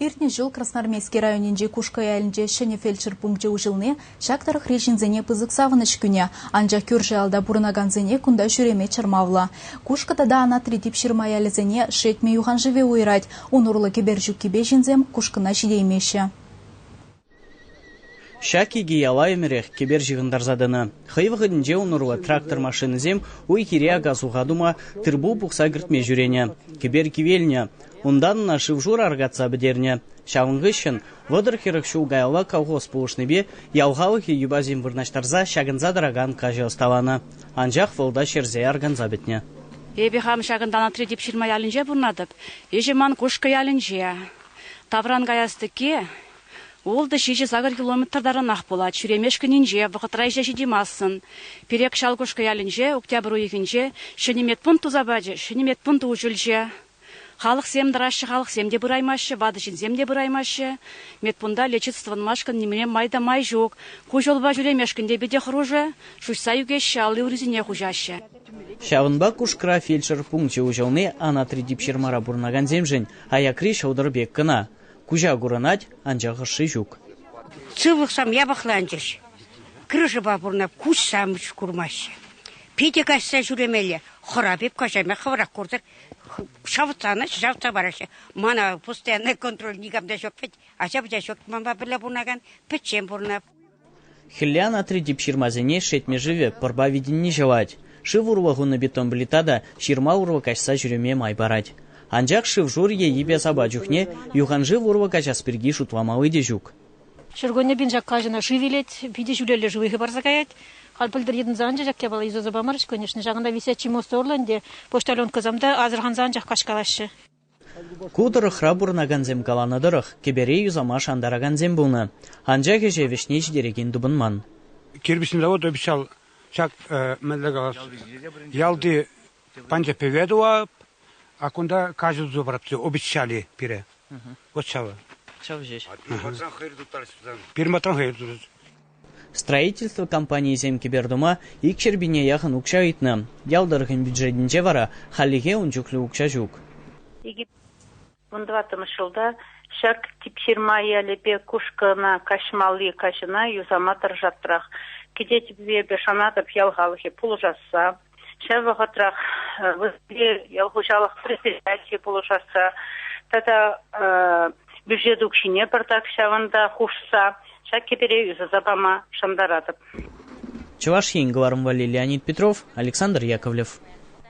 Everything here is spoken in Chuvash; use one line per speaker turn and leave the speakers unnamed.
Иртнӗ ҫул Красноармейски районӗнчи Кушкӑ ялӗнче ҫӗнӗ фельдшер пункчӗ уҫӑлни ҫак тӑрӑхри ҫынсене пысӑк савӑнӑҫ кӳнӗ. Анчах кӳршӗ ялта пурӑнакансене кунта ҫӳреме чӑрмавлӑ. Кушкӑ тата Анатри Типҫырма ялӗсене Шетмӗ юханшывӗ уйӑрать. Ун урлӑ кӗпер ҫуккипе ҫынсем Кушкӑна ҫитеймеҫҫӗ.
Ҫак икӗ яла ӗмӗрех кӗпер ҫыхӑнтарса тӑнӑ. Хӑй вӑхӑтӗнче ун урлӑ трактор машинӑсем уй-хире ака-суха тума, тыр-пул пухса кӗртме ҫӳренӗ, кӗпер кивелнӗ. Унтан ӑна шыв-шур аркатса пӗтернӗ. Ҫавӑн хыҫҫӑн вӑтӑр-хӗрӗх ҫул каялла колхоз пулӑшнипе ял халӑхӗ юпасем вырнаҫтарса ҫакӑнса тӑракан каҫӑ ӑсталанӑ, анчах вӑл та ҫӗрсе арканса пӗтнӗ. Эпӗ хам
ҫакӑнтан Отрядик ҫырма ялӗнче пурӑнатӑп. Ӗҫӗ ман Кушкӑ ялӗнче. Тавран каяс тӗкки ултӑ-ҫичӗ сакӑр километр таранах пулать. Ҫӳремешкӗнинче вӑхӑтра ӗҫе ҫитеймастӑн. Перек Ҫалкушкӑ ялӗнче октябрь уйӑхӗнче ҫӗнӗ медпункт туса пачӗ. Ҫӗнӗ медпункт уҫӑлчӗ. Халӑхсем тӑраҫҫӗ, халӑхсем те пыраймаҫҫӗ, ватӑ ҫынсем те пыраймаҫҫӗ. Медпункта лечиться тӑвӑнмашкӑн нимле май та май ҫук. Ку ҫулпа ҫӳремешкӗн те питӗ хӑрушӑ. Шуҫса ӳкеҫҫӗ, алли урисене хуҫаҫҫӗ. Ҫавӑнпа
Кушкра фельдшер пункчӗ уҫӑлни Анатри типҫырмара пурӑнакансемшӗн Аякри ҫӑлтӑр пек кӑна. Куҫа курӑнать, анчах ӑшши ҫук. Сывлӑхсем
япӑхланчӗҫ. Крышӑпа пурӑнать, куҫсем курмаҫҫӗ. Питӗ каҫса ҫӳремелле. Хӑра пек каҫаҫҫӗ, хӑвӑрах куртӑр. Шавӑтланать, шавӑтса параҫҫӗ. Мана постоянный контроль никам та ҫук вӗт. Ача-пӑча ҫук. Манпа пӗрле пурӑнакан пӗччен пурӑнать. Хӗлле
анатри тип ҫырмасене шетмӗ шывӗ пӑрпа витӗнни ҫӑвать. Шыв урлӑ хунӑ бетон плита та ҫырма урлӑ каҫса ҫӳреме май парать. Анчах шыв-шур е йӗпе-сапа чухне юханшыв урлӑ каҫас пирки шутламалли те ҫук. Ҫуркунне
пиншакка ҫына шыв илет, питӗ ҫӳлелле шыв хыпарса каять. Халь пӗлтӗр йӑтӑнса анчӗ ҫак япала юсаса памарӗҫ, конечно. Ҫакӑнта висетчи мост урлӑ ӗнтӗ почтальонкӑсем те асӑрханса анчах каҫкалаҫҫӗ. Ку
тӑрӑхра пурӑнакансем каланӑ тӑрӑх, кӗпере юсама шантаракансем пулнӑ, анчах ӗҫе вӗҫне ҫитерекен тупӑнман. Кирпӗчный завод
обещал ҫак мӗнле калас ялти панчӑхпӗве тӑвап, а кунта каҫӑ туса парапти обещали пире. Вот ҫавӑ. Ҫав ҫеҫ. Пирматран хӑйӑр тутарать. Строительство
компанийӗсем кӗпер-тума икҫӗр пине яхӑн укҫа ыйтнӑ. Ял тӑрӑхӗн бюджетӗнче вара хальлӗхе ун чухлӗ укҫа ҫук. Вун
тӑваттӑмӗш ҫулта ҫак Типҫырма ялӗпе Кушкӑна каҫмалли каҫӑна юсама тӑрӑшаттӑрах. Кӗтетӗп эпӗ, шанатӑп ял халӑхӗ пулӑшасса. ҫав вӑхӑтрах вырӑнти ял хуҫалӑх предприятийӗ пулӑшасса тата бюджет укҫине пӗртак ҫавӑнта хушса ҫак кӗпере юсаса пама шантаратӑп. Чӑваш
Ен кӑларӑм валли Леонид Петров,
Александр
Яковлев.